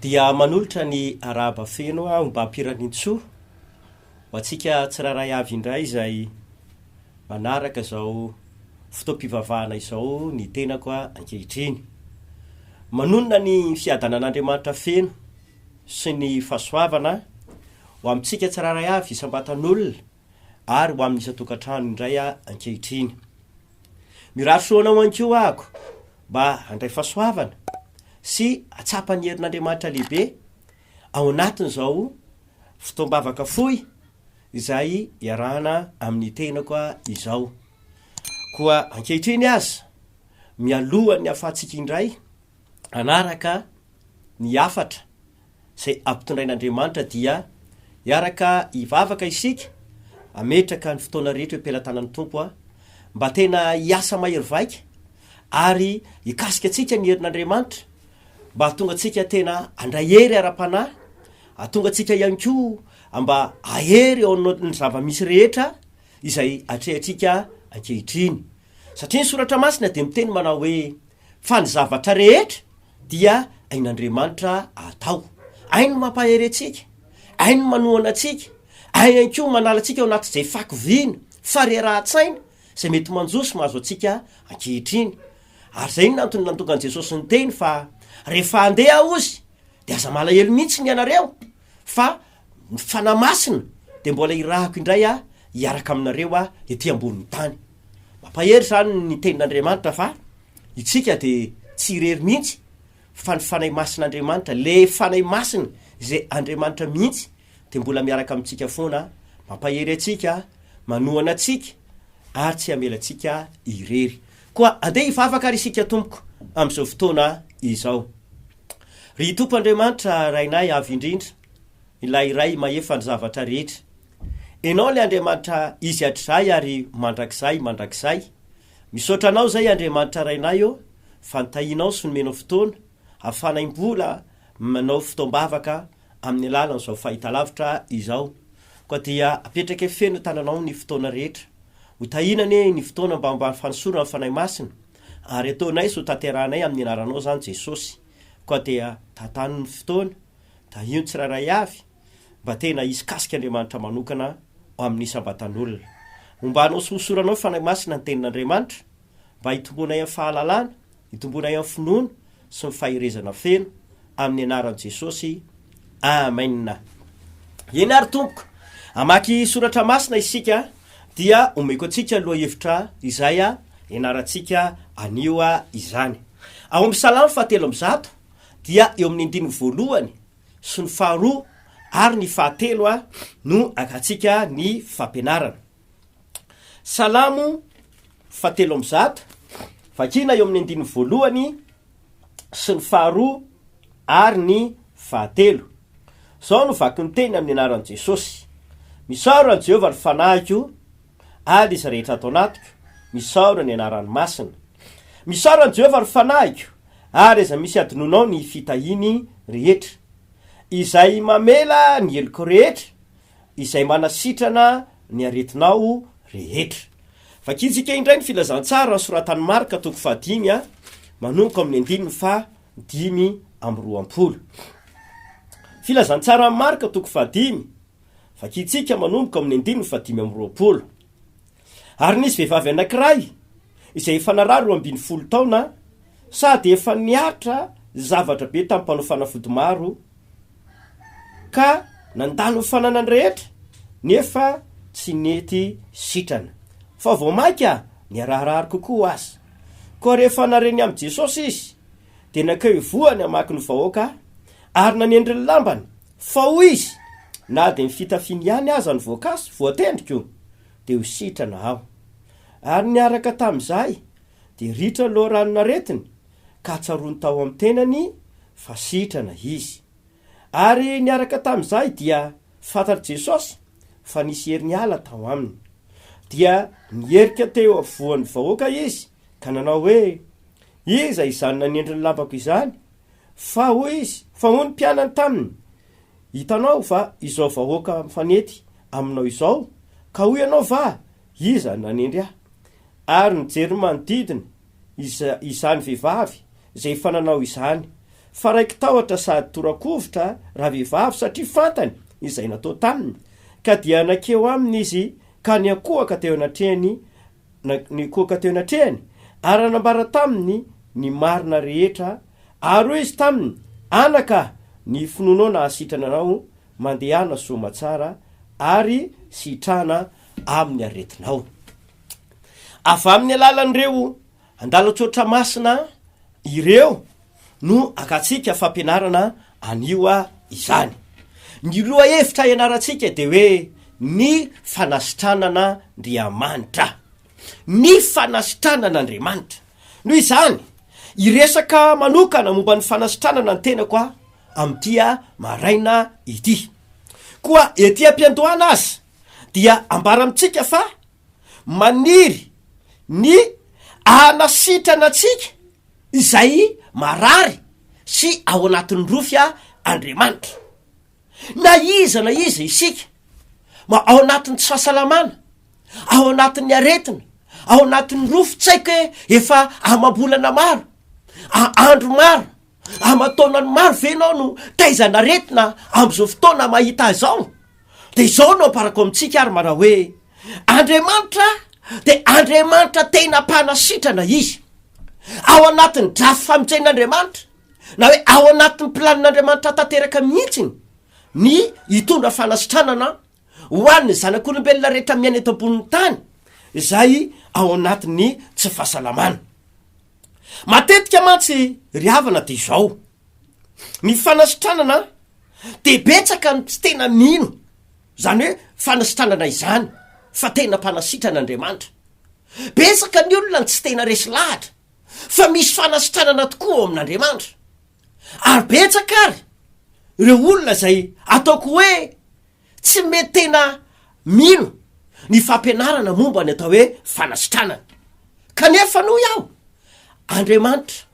Dia manolotra ny arahaba feno aho mba Piraniantsoa ho antsika tsirairay avy indray izay manaraka izao fotoam-pivavahana izao ny tenako ankehitriny. Manonona ny fiadanan'Andriamanitra feno sy ny fahasoavana ho amintsika tsirairay avy isam-batan'olona. ary ho amin'ny isan-tokantrano indray aho ankehitriny. Mirary soa anao ihany koa ahako mba handray fahasoavana sy hatsapa ny herin'Andriamanitra lehibe ao anatin'izao fotoam-bavaka fohy izay iarahana amin'ny tenako izao. Koa ankehitriny aza, mialohan'ny hahafahantsika indray, hanaraka ny hafatra izay ampitondrain'Andriamanitra dia hiaraka hivavaka isika, hametraka ny fotoana rehetra eo am-pelatanan'ny Tompo a! mba tena hiasa mahery vaika ary hikasika antsika ny herin'Andriamanitra mba hahatonga antsika tena handray hery ara-panahy, hahatonga antsika ihany koa mba hahery eo amin'ny zava-misy rehetra izay atrehantsika ankehitriny. Satria ny Soratra Masina dia miteny manao hoe Fa ny zavatra rehetra dia ain'Andriamanitra atao. Hainy ny mampahery antsika, hainy ny manohana antsika, hainy ihany koa ny manala antsika ao anatin'izay fako vina, farerahan-tsaina, izay mety manjo sy mahazo antsika ankehitriny. Ary izay no antony nantongan'i Jesosy niteny fa rehefa handeha Azy dia aza malahelo mihitsy ny ianareo fa Ny Fanahy Masina dia mbola irahako indray aho hiaraka aminareo aho ety ambonin'ny tany. Mampahery izany ny tenin'Andriamanitra fa itsika dia tsy irery mihitsy fa ny Fanahy Masin'Andriamanitra, le Fanahy Masina izay Andriamanitra mihitsy dia mbola miaraka amintsika foana, mampahery antsika, manohana antsika ary tsy hamela antsika irery. Koa andeha hivavaka ary isika Tompoko amin'izao fotoana izao. Ry Tompo Andriamanitra Rainay avo indrindra, Ilay Iray Mahefa ny zavatra rehetra. Enao ilay Andriamanitra izy hatrizay ary mandrakizay mandrakizay. Misaotra Anao izay Andriamanitra Rainay ô fa nitahianao sy nomenao fotoana hafanay mbola manao fotoam-bavaka amin'ny alalan'izao fahitalavitra izao. Koa dia apetrake feno tananao ny fotoana rehetra. Ho tahiana anie ny fotoana mba mba fanosoran'ny Fanahy Masina ary ataonay sy ho tanterahanay amin'ny anaranao izany Jesosy. Koa dia tantan'ny fotoana. Tahio ny tsirairay avy mba tena hisikasika Andriamanitra manokana ao amin'ny isam-batan'olona. Homba anao sy hosoranao Fanahy Masina ny Tenin'Andriamanitra mba hitomboanay amin'ny fahalalana, hitomboanay amin'ny finoana sy ny faherezana feno, amin'ny anaran'i Jesosy, Amen. Eny ary Tompoko, hamaky soratra masina isika dia omeko antsika lohahevitra izay ianarantsika anio izany. Ao amin'ny Salamo fahatelo amby zato dia eo amin'ny andininy voalohany sy ny faharoa ary ny fahatelo a no angatsika ny fampianarana. Salamo fahatelo amby zato, vakina eo amin'ny andininy voalohany sy ny faharoa ary ny fahatelo. Izao no vaky ny teny amin'ny anaran'i Jesosy, Misaora an'i Jehovah ny fanahiko, Ady izay rehetra ato anatiko, misaora ny anarany masina. Misaora an'i Jehovah ry fanahiko, ary aza misy adinonao ny fitahiany rehetra. Izay mamela ny helokao rehetra, izay manasitrana ny aretinao rehetra. Vakintsika indray ny filazantsara nosoratan'i Marka toko fahadimy, manomboka amin'ny andininy fahadimy amby roapolo. Filazantsaran'i Marka toko fahadimy. Vakintsika manomboka ao amin'ny andininy fahadimy amby roapolo. Ary nisy vehivavy anankiray izay efa naraha roa ambin'ny folo taona sady efa nihatra zavatra be tamin'ny mpanao fanafody maro, ka nandalo ny fananany rehetra, nefa tsy nety sitrana. Fa vao mainka niraharahary kokoa aza. Koa rehefa nare ny amin'i Jesosy izy, dia nankeo ivohany hamaky ny vahoaka, ary nanendry ny lambany Fa hoy izy, Na dia ny fitafiany ihany aza no voakasy, voatendriko, dia ho sitrana aho. Ary niaraka tamin'izahay, dia ritra ny loharanon-aretiny, ka tsaroany tao amin'ny tenany fa sitrana izy. Ary niaraka tamin'izahay dia fantatr'i Jesosy fa nisy hery niala tao aminy. Dia nierika teo afovoan'ny vahoaka izy ka nanao hoe, Iza izany nanendry ny lambako izany? Fa hoy izy, Fa hoy ny mpianany taminy, Hitanao va izao vahoaka mifanety aminao izao? Ka hoy ianao va, Iza nanendry ahy? Ary nijery ny manodidina izany vehivavy izay efa nanao izany, fa raiki-tahotra sady tora-kovitra ravehivavy satria fantany izay natao taminy, ka dia nankeo aminy izy ka niankohoka teo anatrehany, nikoaka teo anatrehany, ary nanambara taminy ny marina rehetra, ary hoy izy taminy, Anaka a, ny finoanao nahasitrana anao, mandehana soamatsara, ary sitrana amin'ny aretinao. Avy amin'ny alalan'ireo andalan-tsoatra masina ireo no akantsika fampianarana anio izany. Ny lohahevitra ianarantsika dia hoe ny fanasitranan'Andriamanitra. Ny fanasitranan'Andriamanitra. Noho izany, hiresaka manokana momba ny fanasitranana ny tenako aho amin'ity maraina ity. Koa ety am-piandohana aza dia ambara amintsika fa maniry ny hanasitrana antsika. Izay marary sy ao anatin'ny rofia Andriamanitra. Na iza na iza isika, ma ao anatin'ny tsy fahasalamana, ao anatin'ny aretina, ao anatin'ny rofy, tsy haiko hoe efa amam-bolana maro, a andro maro, aman-taonany maro ve ianao no taizan'aretina amin'izao fotoana mahita ahy izao? Dia izao no amparako amintsika ary manao hoe, Andriamanitra dia Andriamanitra tena mpanasitrana Izy. Ao anatin'ny drafy famonjen'Andriamanitra, na hoe ao anatin'ny planin'Andriamanitra tanteraka mihitsiny ny hitondra fanasitranana ho an'ny zanak'olombelona rehetra miaina eto ambonin'ny tany izay ao anatin'ny tsy fahasalamana. Matetika mantsy ry havana dia izao, ny fanasitranana dia betsaka ny tsy tena mino izany hoe fanasitranana izany fa tena mpanasitrana Andriamanitra. Betsaka ny olona no tsy tena resy lahatra fa misy fanasitranana tokoa ao amin'Andriamanitra. Ary betsaka ary ireo olona izay ataoko hoe Tsy mety tena mino ny fampianarana momba ny atao hoe fanasitranana. Kanefa noho aho, Andriamanitra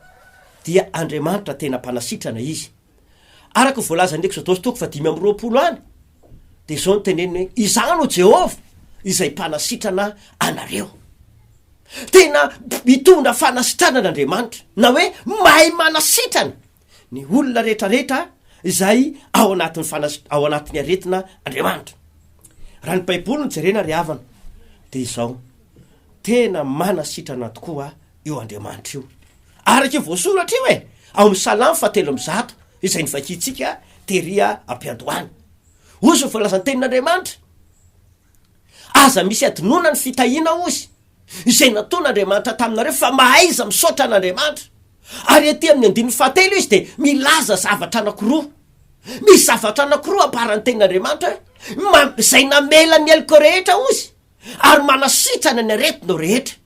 dia Andriamanitra tena mpanasitrana Izy. Araka ny voalazan'ny Ekzôdôsy toko fahadimy amby roapolo any, dia izao no teneniny hoe, Izaho no Jehovah izay mpanasitrana anareo. Tena mitondra fanasitranana Andriamanitra, na hoe mahay manasitrana. Ny olona rehetra rehetra izay ao anatin'ny fanas ao anatin'ny aretina Andriamanitra. Raha ny baiboly no jerena ry havana dia izao, tena manasitrana tokoa io Andriamanitra io. Araka io voasoratra io e, ao amin'ny salamo fahatelo amby zato izay novakiantsika tery am-piandohana. Ozy ny voalazan'ny tenin'Andriamanitra, aza misy adinoana ny fitahiana ozy. izay nataon'Andriamanitra taminareo fa mahaiza misaotra an'Andriamanitra. Ary ety amin'ny andininy fahatelo izy dia milaza zavatra anakiroa. Misy zavatra anakiroa ambaran'ny tenin'Andriamanitra hoe, izay namela ny heloko rehetra ozy ary manasitrana ny aretinao rehetra.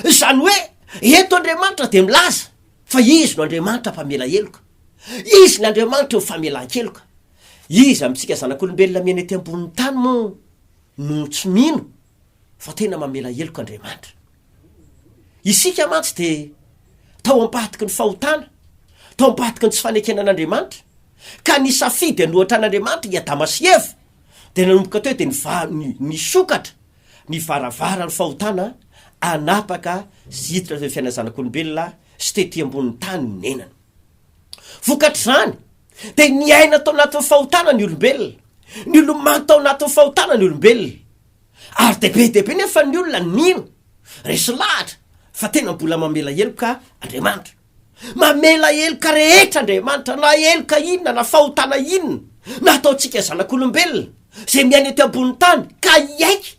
Izany hoe eto Andriamanitra dia milaza fa izy no Andriamanitra mpamela heloka. Izy ny Andriamanitry ny famelan-keloka. Iza amintsika zanak'olombelona miaina ety ambonin'ny tany moa no tsy mino fa tena mamela heloka Andriamanitra. Isika mantsy dia tao ampahatoky ny fahotana, tao ampahatoky ny tsy fanekena an'Andriamanitra, ka ny safidy hanohatra an'Andriamanitra i Adama sy Eva dia nanomboka teo dia niva- ni- nisokatra ny varavaran'ny fahotana hanapaka sy hiditra teo amin'ny fiainan'ny zanak'olombelona sy tety ambonin'ny tany ny nenany. Vokatr'izany, Dia niaina tao anatin'ny fahotana ny olombelona. Nilomano tao anatin'ny fahotana ny olombelona. Ary dia be dia be nefa ny olona nino. Resy lahatra fa tena mbola mamela heloka Andriamanitra. Mamela heloka rehetra Andriamanitra, na heloka inona, na fahotana inona, nataontsika zanak'olombelona, izay miaina eto ambonin'ny tany, ka hiaiky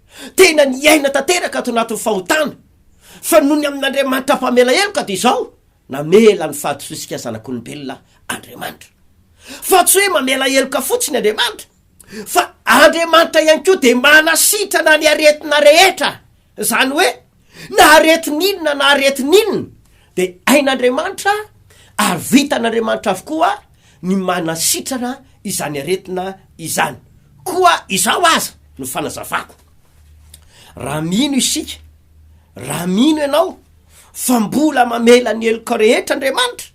Tena niaina tanteraka ato anatin'ny fahotana, fa nony amin'Andriamanitra Mpamela heloka dia izao, namela ny fahadisoantsika zanak'olombelona Andriamanitra. Fa tsy hoe mamela heloka fotsiny Andriamanitra, fa Andriamanitra ihany koa dia manasitrana ny aretina rehetra, izany hoe Na aretin'inona na aretin'inona dia hain'Andriamanitra ary vitan'Andriamanitra avokoa ny manasitrana izany aretina izany. Koa izao aza no fanazavako, raha mino isika, raha mino ianao fa mbola mamela ny heloka rehetra Andriamanitra,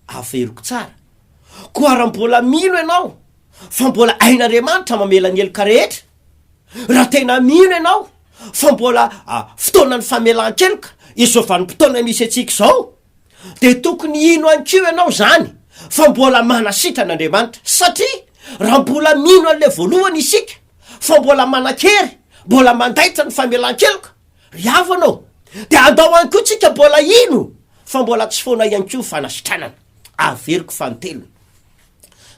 averiko tsara, koa raha mbola mino ianao fa mbola hain'Andriamanitra mamela ny heloka rehetra, Raha tena mino ianao fa mbola fotoanan'ny famelan-keloka izao vanim-potoana misy antsika izao, dia tokony hino ihany koa ianao izany fa mbola manasitrana Andriamanitra. Satria raha mbola mino an'ilay voalohany isika fa mbola manan-kery, mbola mandaitra ny famelan-keloka ry havana ô, dia andao ihany koa tsika mbola hino fa mbola tsy foana ihany koa ny fanasitranana. Averiko fanintelony,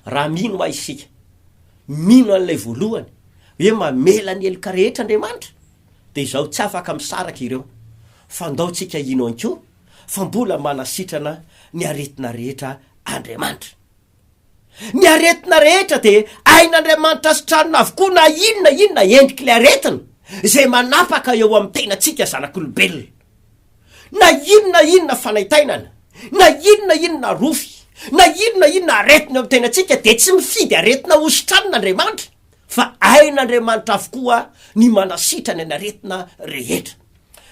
raha mino ahy isika, mino an'ilay voalohany hoe mamela ny heloka rehetra Andriamanitra dia izaho tsy afaka misaraka ireo fa ndao tsika hino ihany koa fa mbola manasitrana ny aretina rehetra Andriamanitra. Ny aretina rehetra dia ain'Andriamanitra sitranina avokoa na inona inona endrik'ilay aretina izay manapaka eo amin'ny tenantsika zanak'olombelona. Na inona inona fanaintainana, na inona inona arofy, na inona inona aretina eo amin'ny tenantsika dia tsy mifidy aretina hositranina Andriamanitra fa ain'Andriamanitra avokoa ny manasitrana ny aretina rehetra.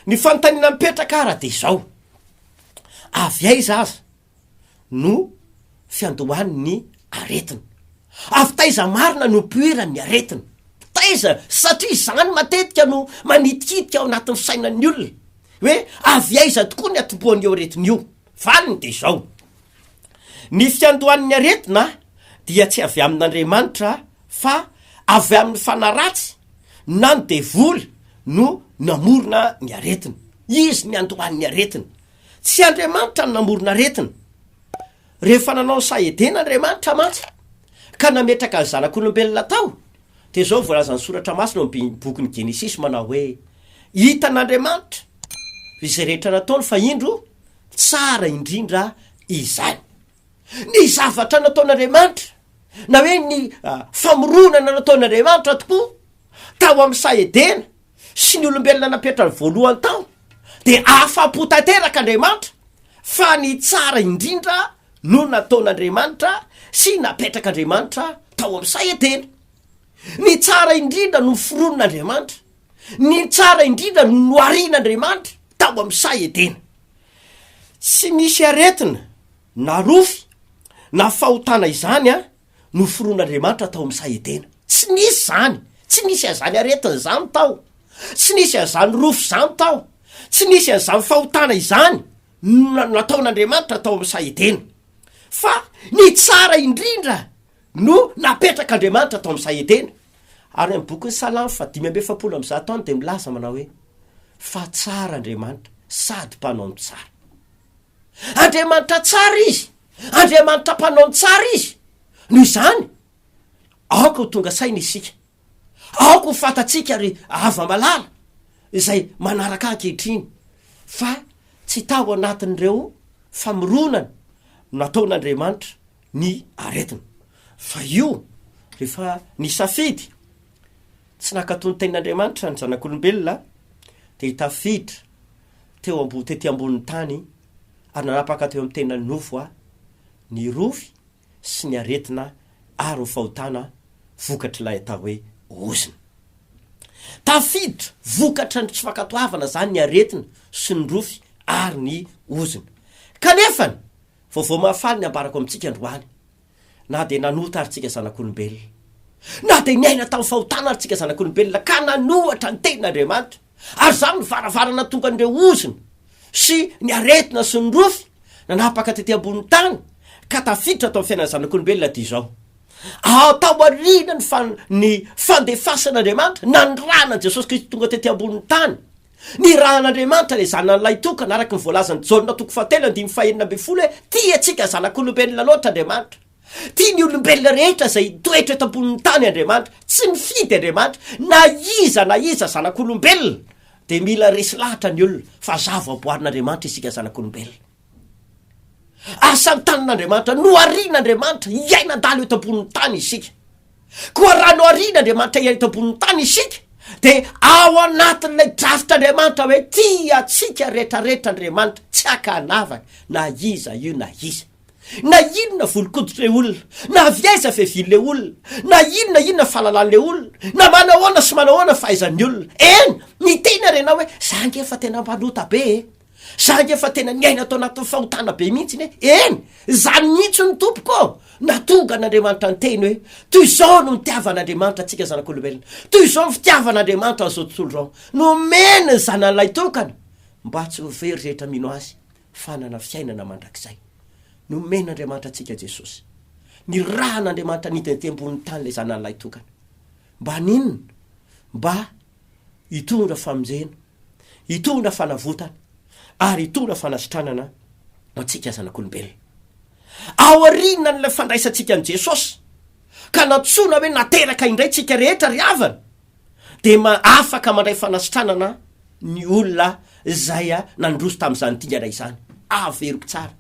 Ny fanontaniana mipetraka ara dia izao, avy aiza aza? no fiandohan' ny aretina. Avy taiza marina no mpihoeran' ny aretina? Taiza? Satria izany matetika no manitikitika ao anatin' ny sainan' ny olona hoe avy aiza tokoa ny atombohan' io aretina io. Valiny dia izao, Ny fiandohan' ny aretina dia tsy avy amin' Andriamanitra fa avy amin' ny fanaratsy na ny devoly no namorona ny aretina. Izy niandohan' ny aretina. Tsy Andriamanitra no namorona aretina. Rehefa nanao ny saha Edena Andriamanitra mantsy, ka nametraka ny zanak'olombelona tao, dia izao no voalazan'ny Soratra Masina ao amin'ny bokin'ny Genesisy manao hoe, Hitan'Andriamanitra izay rehetra nataony, fa indro, tsara indrindra izany. Ny zavatra nataon'Andriamanitra, na hoe ny famoronana nataon'Andriamanitra tokoa tao amin'ny saha Edena, sy ny olombelona napetrany voalohany tao, dia afa-po tanteraka Andriamanitra fa ny tsara indrindra no nataon'Andriamanitra sy napetrak'Andriamanitra tao amin'ny saha Edena. Ny tsara indrindra no foronin'Andriamanitra, ny tsara indrindra no noharian'Andriamanitra tao amin'ny saha Edena. Tsy misy aretina, na rofy, na fahotana izany an! noforonin'Andriamanitra tao amin'ny saha Edena. Tsy nisy izany! Tsy nisy an'izany aretina izany tao. Tsy nisy an'izany rofy izany tao. Tsy nisy an'izany fahotana izany nataon'Andriamanitra tao amin'ny saha Edena. Fa ny tsara indrindra no napetrak'Andriamanitra tao amin'ny saha Edena. Ary amin'ny bokin'ny Salamo faha dimy amby efapolo amby zato any dia milaza manao hoe, Fa tsara Andriamanitra sady mpanao ny tsara. Andriamanitra tsara Izy, Andriamanitra mpanao ny tsara Izy. Noho izany, aoka ho tonga saina isika, aoka ho fantatsika ry hava malala izay manaraka ahy ankehitriny fa tsy tao anatin'ireo famoronana nataon'Andriamanitra ny aretina, fa io rehefa nisafidy tsy nankato ny tenin'Andriamanitra ny zanak'olombelona dia tafiditra teo ambo tety ambonin'ny tany ary nanapaka teo amin'ny tenany nofo a ny rofy sy ny aretina ary ho fahotana vokatr'ilay atao hoe ozona. Tafiditra vokatra ny tsy fankatoavana izany ny aretina sy ny rofy ary ny ozona. Kanefany, vaovao mahafaly ny ambarako amintsika androany. Na dia nanota ary tsika zanak'olombelona, na dia niaina tamin'ny fahotana ary tsika zanak'olombelona ka nanohatra ny tenin'Andriamanitra, ary izany no varavarana nahatonga an'ireo ozona sy ny aretina sy ny rofy nanapaka tety ambonin'ny tany ka tafiditra tao amin'ny fiainan'ny zanak'olombelona aty izao. Ao taoriana ny, ny fandefasan'Andriamanitra nanirahana an'i Jesosy Kristy tonga tety ambonin'ny tany, Nirahan'Andriamanitra ilay Zanany lahitokana, araka ny voalazan'i Jaona toko fahatelo andininy fahenina ambin'ny folo hoe, Tia antsika zanak'olombelona loatra Andriamanitra. Tia ny olombelona rehetra izay hitoetra eto ambonin'ny tany Andriamanitra. Tsy nifidy Andriamanitra na iza na iza zanak'olombelona dia mila resy lahatra ny olona fa zava-boarin'Andriamanitra isika zanak'olombelona. Asa ny tanin'Andriamanitra, noharian' Andriamanitra hiaina adala eto ambonin'ny tany isika. Koa raha noharian' Andriamanitra hiaina eto ambonin'ny tany isika, dia ao anatin'ilay drafitr'Andriamanitra hoe tia antsika rehetrarehetra Andriamanitra, tsy haka hanavaka na iza io na iza. Na inona volon-koditr' ilay olona, na avy aiza fiavian'ilay olona, na inona inona fahalalan'ilay olona, na manahoana sy manahoana ny fahaizan'ny olona. Eny, miteny ary ianao hoe, 'Za ange efa tena mpanota be e! Za nge efa tena niaina tao anatin'ny fahotana be mihitsy ne, eny izany mihitsy no tompoko ô, natonga an'Andriamanitra niteny hoe toy izao no nitiavan'Andriamanitra antsika zanak'olombelona, toy izao ny fitiavan'Andriamanitra an'izao tontolo izao, nomeny ny Zanany Lahitokana mba tsy ho very rehetra mino Azy fa hanana fiainana mandrakizay. Nomen'Andriamanitra antsika Jesosy. Nirahan'Andriamanitra nidina tety ambonin'ny tany ilay Zanany Lahitokana. Mba haninona? Mba hitondra famonjena, hitondra fanavotana ary hitondra fanasitranana ho antsika zanak'olombelona. Aorianan'ilay fandraisantsika an'i Jesosy ka nantsoina hoe nateraka indray tsika rehetra ry havana dia ma afaka mandray fanasitranana ny olona izay nandroso tamin'izany dingana izany. Averiko tsara.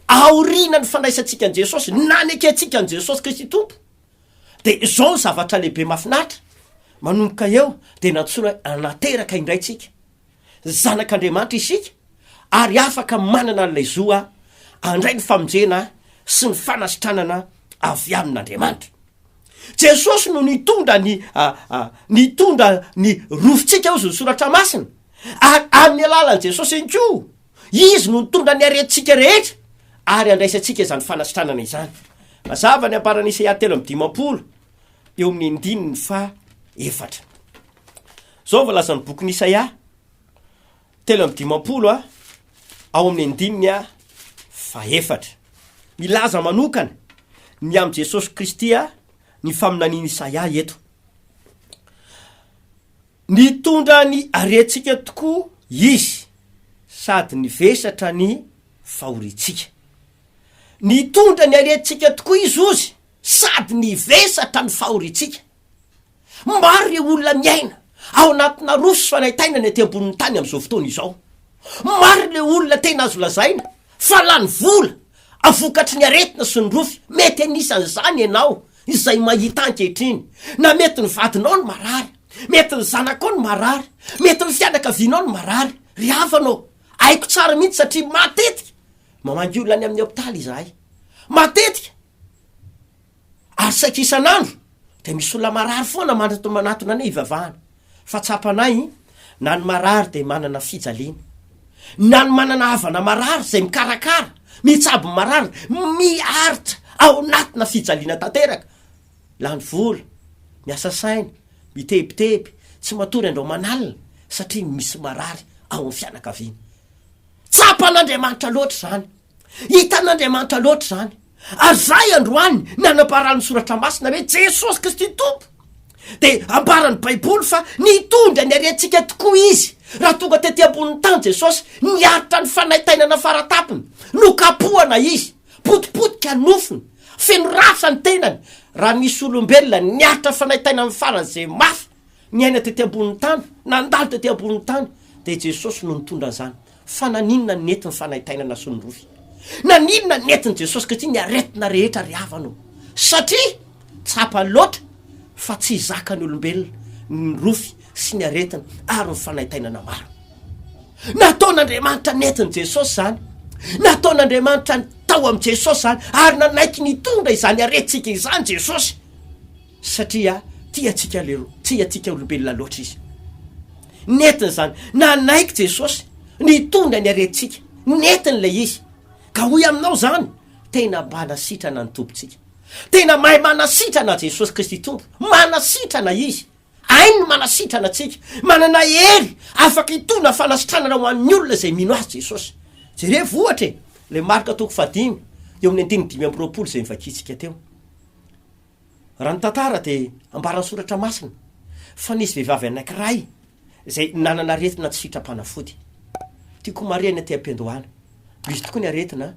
Aorianan'ny fandraisantsika an'i Jesosy, nanekentsika an'i Jesosy Kristy Tompo. Dia izao ny zavatra lehibe mahafinaritra, manomboka eo dia nantsoina hoe hanateraka indray isika. Zanak'Andriamanitra isika ary afaka manana an'ilay zo handray ny famonjena sy ny fanasitranana avy amin'Andriamanitra. Jesosy no nitondra ny nitondra ny rofintsika hozy ny soratra masina ary amin'ny alalan'i Jesosy ihany koa Izy no nitondra ny harentsika rehetra ary handraisantsika izany fanasitranana izany. Mazava ny ambaran'i Isaia telo amby dimampolo eo amin'ny andininy faha efatra. Izao ny voalazan'ny bokin'i Isaia telo amby dimampolo a, ao amin'ny andininy a faha efatra. Milaza manokana ny amin'i Jesosy Kristy a, ny faminanian'i Isaia eto. Nitondra ny harentsika tokoa Izy sady nivesatra ny fahoriantsika. Nitondra ny harentsika tokoa Izy ozy sady nivesatra ny fahoriantsika. Maro ireo olona miaina ao anatina roso sy fanaintainana ety ambonin'ny tany amin'izao fotoana izao. Maro ireo olona tena azo lazaina fa lany vola vokatry ny aretina sy ny rofy. Mety anisan'izany ianao izay mahita ankehitriny, na mety ny vadinao no marary, mety ny zanakao no marary, mety ny fianakavianao no marary, ry havana ô! Haiko tsara mihitsy satria matetika mamangy olona any amin'ny hopitaly izahay. Matetika! Ary saika isan'andro dia misy olona marary foana manatona anay hivavahana. Fa tsapanay na ny marary dia manana fijaliana, na ny manana havana marary izay mikarakara, mitsabo ny marary, miaritra ao anatina fijaliana tanteraka, lany vola, miasa saina, mitebiteby, tsy matory andro aman'alina satria misy marary ao amin'ny fianakaviana. Tsapan'Andriamanitra loatra izany. Hitan'Andriamanitra loatra izany. Ary izahay androany ny anambaran'ny soratra masina hoe Jesosy Kristy Tompo, dia ambaran'ny Baiboly fa nitondra ny harentsika tokoa Izy raha tonga tety ambonin'ny tany Jesosy, niaritra ny fanaintainana faratapony, nokapohana Izy, potipotika ny nofony, feno rafitra ny tenany, raha nisy olombelona niaritra ny fanaintainany faran'izay mafy, Niaina tety ambonin'ny tany, nandalo tety ambonin'ny tany, dia i Jesosy no nitondra an'izany. Fa naninona no nety ny fanaintainana sy ny rofy? Naninona no nentin'i Jesosy ankehitriny ny aretina rehetra ry havana ô? Satria tsapa loatra fa tsy zakan'ny olombelona ny rofy sy ny aretina ary ny fanaintainana maro. Nataon'Andriamanitra nentin'i Jesosy izany. Nataon'Andriamanitra tao amin'i Jesosy izany ary nanaiky nitondra izany aretintsika izany Jesosy. Satria tia antsika leroa, tia antsika olombelona loatra Izy. Nentiny izany. Nanaiky Jesosy nitondra ny aretintsika. Nentiny ilay izy. Ka hoy aminao izany, tena manasitrana ny Tompontsika. Tena mahay manasitrana Jesosy Kristy Tompo. Manasitrana Izy. Hainy ny manasitrana antsika. Manana hery afaka hitondra fanasitranana ho an'ny olona izay mino Azy Jesosy. Jerevo ohatra e, ilay Marka toko fahadimy, eo amin'ny andininy dimy amby roapolo izay novakintsika teo. Raha ny tantara dia ambaran'ny soratra masina fa nisy vehivavy anankiray izay nanana aretina tsy sitram-panafody. Tiako homarihana ety am-piandohana, misy tokoa ny aretina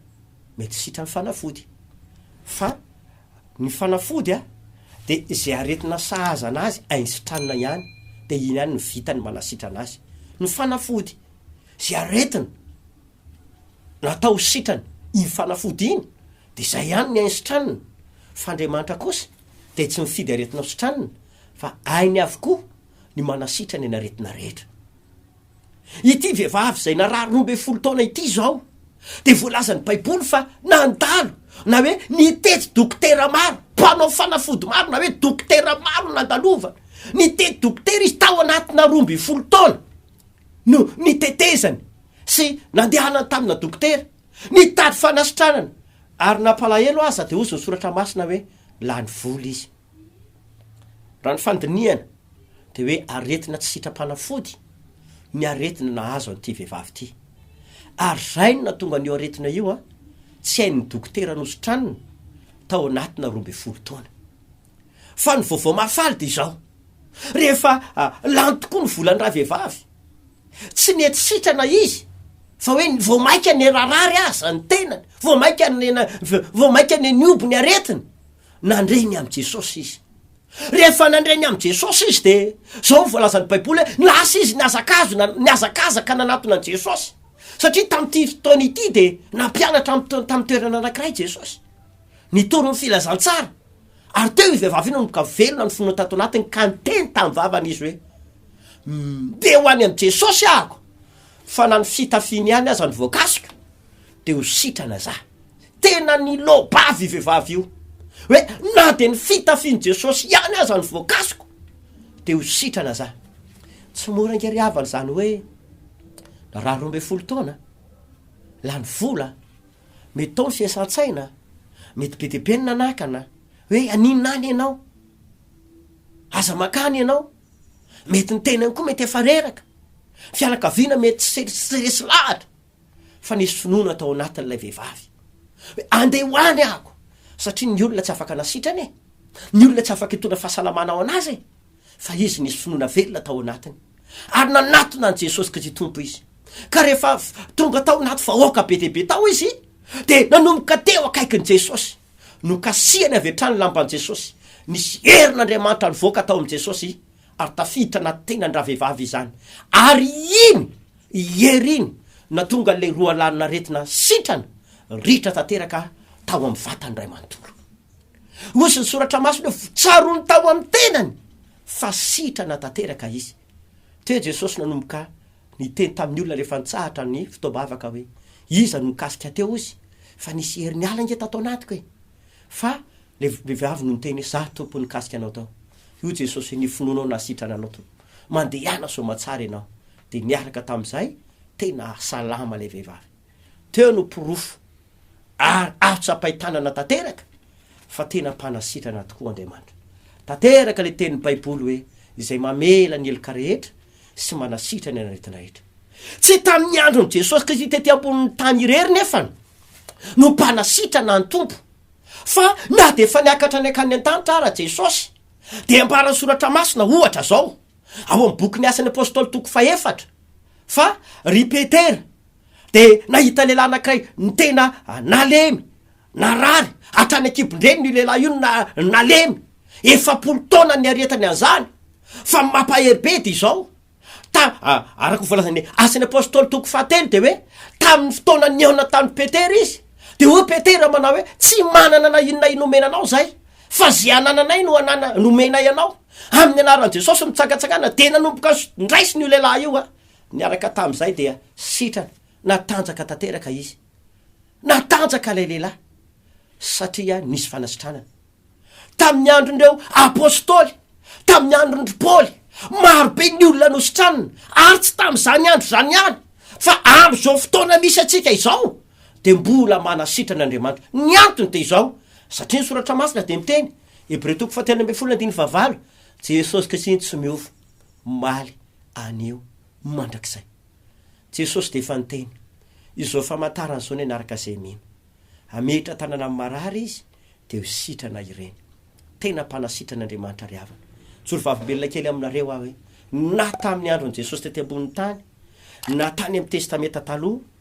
mety sitran'ny fanafody. Fa ny fanafody dia izay aretina sahaza anazy ainy sitranina ihany, dia iny ihany no vitany manasitrana azy. Ny fanafody, izay aretina natao sitrany iny fanafody iny dia zay ihany ny ainy sitranina fa Andriamanitra kosa dia tsy mifidy aretina ho sitranina fa ainy avokoa ny manasitrana ny aretina rehetra ity vehivavy izay narary roa ambin'ny folo taona ity izao dia voalazan'ny baiboly fa nandalo na hoe nitety dokotera maro mpanao fanafody maro na hoe dokotera maro nandalovany nitety dokotera izy tao anatina roa ambin'ny folo taona no nitetezany sy nandehanany tamina dokotera nitady fanasitranana ary nampalahelo aza dia hozy ny soratra masina hoe lany vola izy. Raha ny fandinihana dia hoe aretina tsy sitram-panafody ny aretina nahazo an'ity vehivavy ity. Ary zay no natonga an'io aretina io an, tsy hain'ny dokotera nositranina tao anatina roa ambin'ny folo taona. Fa ny vaovao mahafaly dia izao, rehefa lany tokoa ny volan'ny ravehivavy, tsy nety sitrana izy fa hoe vao maika nirarary aza ny tenany, vao maika vao maika neniombo ny aretiny, nandre ny amin'i Jesosy izy. Rehefa nandre ny amin'i Jesosy izy dia izao ny voalazan'ny Baiboly hoe lasa izy nihazakazona, nihazakazaka nanatona an'i Jesosy. Satria tamin'ity fotoana ity dia nampianatra tamin'ny toerana anankiray Jesosy. Nitory ny filazantsara, ary teo io vehivavy io no nidoka velona ny finoany tato anatiny ka niteny tamin'ny vavany izy hoe, Mbe ho any amin'i Jesosy ahako, fa na ny fitafiany ihany aza no voakasiko, dia ho sitrana za. Tena niloa-bava io vehivavy io, hoe na dia ny fitafian'i Jesosy ihany aza no voakasiko, dia ho sitrana za. Tsy mora ange ry havana izany hoe narary roa ambin'ny folo taona, lany vola, Mety tao ny fiasan-tsaina, mety be dia be ny nanakana hoe aninona any ianao, aza mankany ianao, mety ny tenany koa mety efa reraka, ny fianakaviana mety tsy tsy resy lahatra fa nisy finoana tao anatin'ilay vehivavy hoe andeha ho any aho satria ny olona tsy afaka nasitrana e, ny olona tsy afaka hitondra fahasalamana ho an'azy e. fa izy nisy finoana velona tao anatiny, ary nanatona an'i Jesosy Kristy Tompo izy. Ka rehefa avy tonga tao anaty vahoaka be dia be tao izy, dia nanomboka teo akaikin'i Jesosy. Nokasihany avy hatrany ny lamban'i Jesosy. Nisy herin'Andriamanitra nivoaka tao amin'i Jesosy, ary tafiditra anaty tenan-dravehivavy izany. Ary iny hery iny no nahatonga an'ilay roalanin'aretina sitrana ritra tanteraka tao amin'ny vatany iray manontolo. Hozy ny soratra masina hoe tsaroany tao amin'ny tenany fa sitrana tanteraka izy. Teo Jesosy nanomboka niteny tamin'ny olona rehefa nitsahatra ny fotoam-bavaka hoe, Iza no nikasika teo hozy? Fa nisy hery niala ange tato anatiko e! Fa le vehivavy no niteny hoe, Za Tompo nikasika anao tao. Hoy Jesosy hoe, Ny finoanao nahasitrana anao Tompo. Mandehana soa aman-tsara ianao. Dia niaraka tamin'izay, tena salama ilay vehivavy. teo no porofo ary azo tsapain-tanana tanteraka fa tena mpanasitrana tokoa Andriamanitra. Tanteraka ilay tenin'ny Baiboly hoe izay mamela ny heloka rehetra sy manasitrana ny aretina rehetra. Tsy tamin'ny andron'i Jesosy Kristy tety ambonin'ny tany irery nefa no mpanasitrana ny Tompo fa na dia efa niakatra ny akany an-tanitra ara Jesosy dia ambaran'ny soratra masina ohatra izao ao amin'ny bokin'ny asan'ny apostoly toko fahefatra fa ry Petera dia nahita lehilahy anankiray nitena nalemy, narary, hatrany an-kibon-dreniny io lehilahy io na nalemy, efapolo taona niaretany an'izany, fa ny mampahery be dia izao, ta araka ny voalazan'ny Asan'ny Apostoly toko fahatelo dia hoe, tamin'ny fotoana nihaonany tamin'i Petera izy, dia hoy Petera manao hoe, tsy manana na inona na inona omena anao izahay, fa izay anananay no anana nomenay anao, amin'ny anaran'i Jesosy mitsangatsangana, dia nanomboka nraisiny io lehilahy io an. Niaraka tamin'izay dia sitrana, natanjaka tanteraka izy. Natanjaka ilay lehilahy, satria nisy fanasitranana. Tamin'ny andron'ireo apostoly, tamin'ny andron-dry Paoly, marobe ny olona nositranina, ary tsy tamin'izany andro izany ihany, fa amin'izao fotoana misy antsika izao dia mbola manasitrana Andriamanitra. Ny antony dia izao, satria ny Soratra Masina dia miteny, Hebreo toko fahatelo ambin'ny folo andininy fahavalo, Jesosy Kristy tsy miova. omaly anio mandrakizay. Jesosy dia efa niteny izao famantarana izao ny hanaraka izay mino. Hametra tanana amin'ny marary izy dia ho sitrana ireny. Tena mpanasitrana Andriamanitra ry havana. Mijoro vavolombelona kely aminareo aho hoe na tamin'ny andron'i Jesosy tety ambonin'ny tany na tany amin'ny testamenta taloha,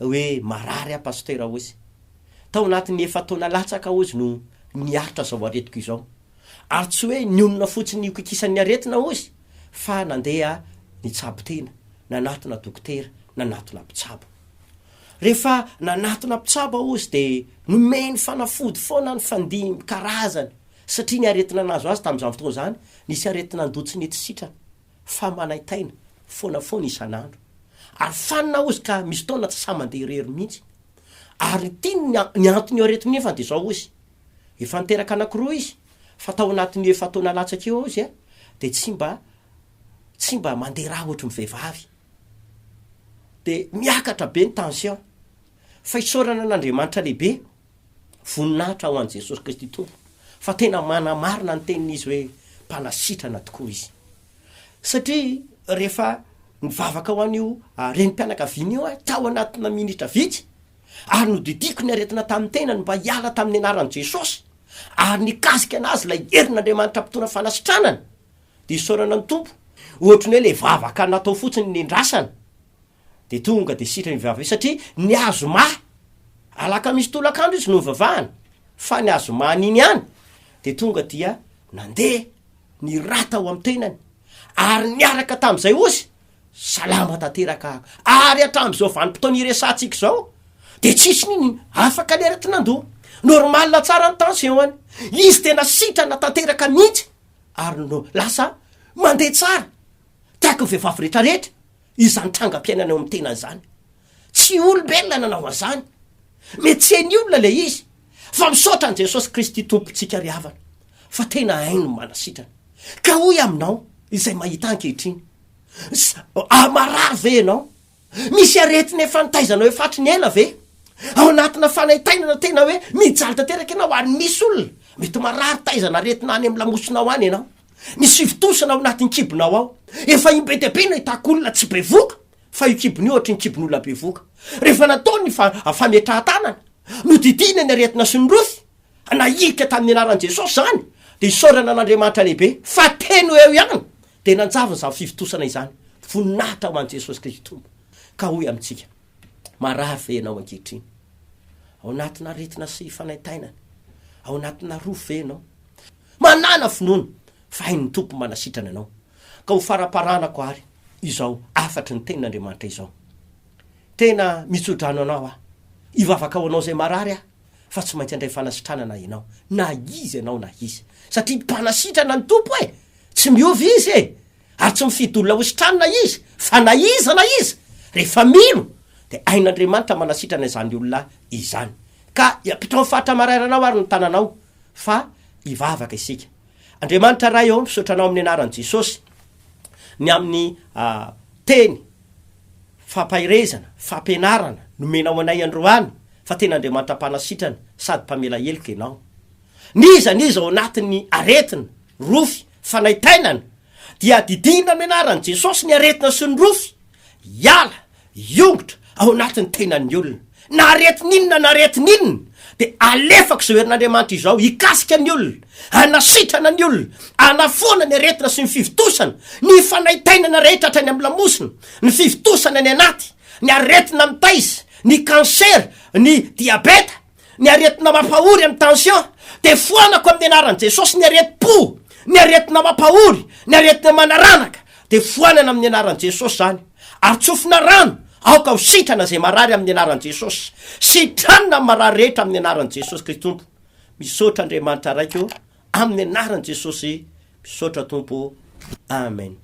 hoe marary aho Pasitera Ozy. Tao anatin'ny efa-taona latsaka Ozy no niaritra izao aretiko izao. Ary tsy hoe nionona fotsiny nikoikisan'ny aretina Ozy fa nandeha nitsabo tena, nanatona dokotera, nanatona mpitsabo. Rehefa nanatona mpitsabo aho Ozy dia nomeny fanafody foana nifandimby karazany satria ny aretina nahazo azy tamin'izany fotoana izany nisy aretina ndoa tsy nety sitrana. fa manaintaina foana foana isan'andro ary fanina ozy ka misy fotoana tsy sahy mandeha irery mihitsy ary ity ny anton'ny aretina efa dia izao ozy efa niteraka anakiroa izy fa tao anatin'io efa taona latsaka io ozy a dia tsy mba tsy mba mandeha rà ohatry ny vehivavy dia miakatra be ny tension fa isaorana an'Andriamanitra lehibe Voninahitra ho an'i Jesosy Kristy Tompo fa tena manamarina ny tenin'izy hoe mpanasitrana tokoa izy. Satria rehefa nivavaka ho an'io ah, renim-pianakaviana io aho tao anatina minitra vitsy ary nodidiako ny aretina tamin'ny tenany mba hiala tamin'ny anaran'i Jesosy ary nikasika anazy ilay herin'Andriamanitra mpitondra fanasitranana dia isaorana ny Tompo. Ohatry ny hoe ilay vavaka natao fotsiny nendrasana Dia tonga dia sitrany vava izy satria ny azoma, alakamisy tolakandro izy no nivavahana, fa ny azomany iny ihany dia tonga dia nandeha ny rà tao amin'ny tenany ary niaraka tamin'izay ozy salama tanteraka ary hatramin'izao vanim-potoana iresahantsika izao dia tsisy nini afaka ny arety nandoa normal tsara ny tension-ny izy tena sitrana tanteraka mihitsy ary no lasa mandeha tsara tahaka ny vehivavy rehetrarehetra Izany trangam-piainana eo amin'ny tena izany. Tsy olombelona nanao an'izany. Mietsehan'ny olona ilay izy. Fa misaotra an'i Jesosy Kristy Tompontsika ry havana fa tena hainy ny manasitrana. Ka hoy aminao izay mahita ahy ankehitriny, Sa marary ve ianao? Misy aretina efa nitaizanao efa hatry ny ela ve? Ao anatina fanaintainana tena hoe mijaly tanteraka ianao ary misy olona mety marary taizana aretina any amin'ny lamosina ao any ianao. Ny sivintousana ao anatin'ny kibonao ao. Efa imbe dia be nahitako olona tsy bevoka fa io kibony io ohatry ny kibon'olona bevoka. Rehefa natao ny fa, fametrahan-tanana, nodidiana ny aretina sy ny rofy, nahilika tamin'ny anaran'i Jesosy izany, dia isaorana an'Andriamanitra lehibe fa teny ho eo ihany dia nanjavona izany fivontosana izany. Voninahitra ho an'i Jesosy Kristy Tompo. Ka hoy amintsika, Marary ve ianao ankehitriny? Ao anatin'aretina sy fanaintainana? Ao anatinà rofy ve ianao? Manàna finoana fa hain'ny Tompo manasitrana anao, ka ho faraparanako àry izao hafatry ny Tenin'Andriamanitra izao. Tena mitso-drano anao aho. Hivavaka ho anao izay marary aho, fa tsy maintsy handray fanasitranana ianao, na iza ianao na iza. Satria mpanasitrana ny Tompo e! Tsy miova Izy e! ary tsy mifidy olona hositranina izy fa na iza na iza rehefa mino dia hain'Andriamanitra manasitrana izany olona izany. Ka ampitao amin'ny faritra marairana ao ary ny tananao fa hivavaka isika. Andriamanitra Ray ô, misaotra Anao amin'ny anaran'i Jesosy ny amin'ny ah, teny fampaherezana, fampianarana nomenao anay androany fa tena Andriamanitra mpanasitrana sady mpamela heloka Ianao. N'iza n'iza ao anatin'ny aretina, rofy, Fanaintainana, dia adidinina amin'ny anaran'i Jesosy ny aretina sy ny rofy hiala, hiongotra, ao anatin'ny tenan'ny olona. Na aretina inona na aretina inona, dia alefako izao herin'Andriamanitra izao hikasika ny olona, hanasitrana ny olona, hanafoana ny aretina sy ny fivontosana, ny fanaintainana rehetra hatrany amin'ny lamosina, ny fivontosana any anaty, ny aretina mitaiza, ny kansera, ny diabeta, Ny aretina mampahory amin'ny tension dia foanako amin'ny anaran'i Jesosy ny aretim-po, ny aretina mampahory, ny aretina manaranaka dia foanana amin'ny anaran'i Jesosy izany ary tsofina rano aoka ho sitrana izay marary amin'ny anaran'i Jesosy, sitranina ny marary rehetra amin'ny anaran'i Jesosy Kristy Tompo. Misaotra Andriamanitra Raiko amin'ny anaran'i Jesosy, misaotra Tompo ô, Amen.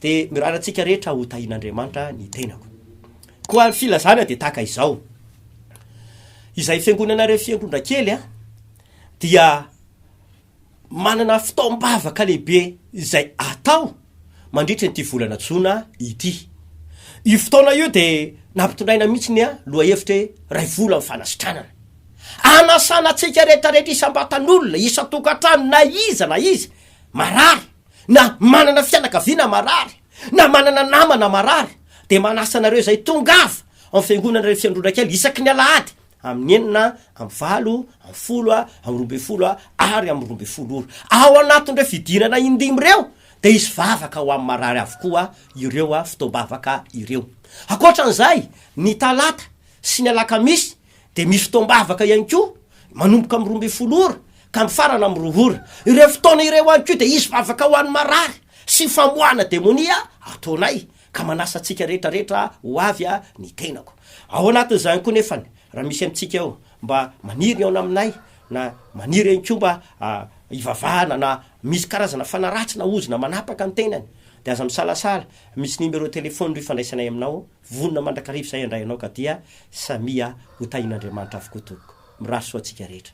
Dia mirary antsika rehetra ho tahian'Andriamanitra ny tenako. Koa ny filazana dia tahaka izao, izay fiangonana re fiangonana kely a, dia manana fitaom-bavaka lehibe izay atao, mandritra ity volana jona ity. Io fotoana io dia nampitondraina mihitsy ny lohahevitra hoe iray vola amin'ny fanasitranana. Anasana antsika rehetrarehetra isam-batan'olona, isan-tokantrano na iza na iza marary na manana fianakaviana marary na manana namana marary dia manasa anareo izay tongava ao amin'ny fiangonana iray fiandronakely isaky ny alahady amin'ny enina amby valo, amin'ny folo, amin'ny roa ambin'ny folo ary amin'ny roa ambin'ny folo ora. Ao anatin'ireo fidirana indimy ireo dia hisy vavaka ho amin'ny marary avokoa ireo fotoam-bavaka ireo. Ankoatra an'izay, ny talata sy ny alakamisy dia misy fotoam-bavaka ihany koa manomboka amin'ny roa ambin'ny folo ora ka mifarana amin'ny roa ora. Ireo fotoana ireo ihany koa dia hisy vavaka ho an'ny marary sy famoahana demonia ataonay. ka manasa antsika rehetra rehetra ho avy a ny tenako ao anatin' izany koa nefany raha misy amintsika eo mba maniry ny aona aminay na maniry any koa mba hivavahana na misy karazana fanaratsy na ozona manapaka ny tenany dia aza misalasala misy numéro téléphone ry fandraisanay aminao vonona mandrakariva izay handray anao ka dia samia ho tahian'Andriamanitra avokoa tompoko mirary soa antsika rehetra